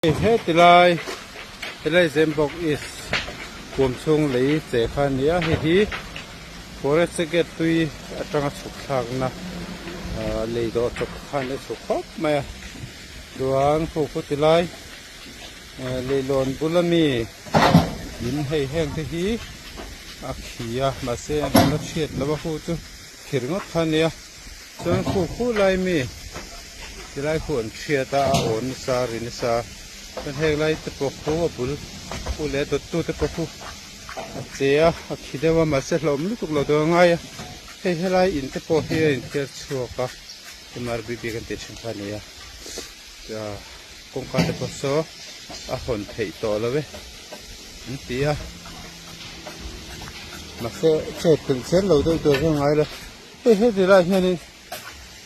Hetilai Helaizembawk East kuam chhung lei che kha a ni a, hei hi Forest Gate tui atanga chhukthlakna lei dawh chawp khan a chhuk khawp mai a, chuan Khuhkhutilai leihlawn bula mi in hei heng te hi a khi a, mahse an la chhiat lova hu chu thir ngawt kha a ni a. Chuan khu khu lai mi tilai khu an thiat a, a aw nasa a ri nasa a, chuan hek lai te pawh khu a bul khu leh a dawt tu te pawh khu a che a, a khi deuh a mahse hlawhawm lutuk lo dawn a ngai a, hei helai in te pawh hi a inthiar chhuak a, MRBB kan tih thin kha a nia kawngka te pawh saw a hawn theih tawh lo e an ti a, mahse chet tel zel lo deuh tur hi a ngai lo. Hei heti lai hianin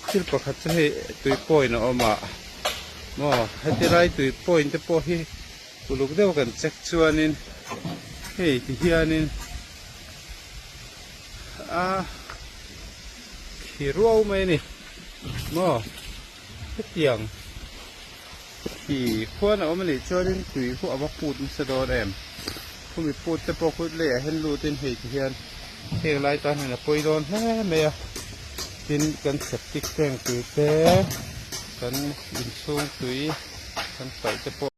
thil pakhat chu hei tui point a awm a maw heti lai tui point te pawh hi uluk deuh kan check chuanin hei ti hianin a khi ruau mai a ni maw hetiang. khi khuan a awm a nih chuanin tui khuh a va put nasa dawn em khumi put te pawh kut leh ah hian lut in hei ti hian heng lai tan hian a pawi dawn hle mai a tin kan septic tank tui te kan inchhung tui kan paih te pawh--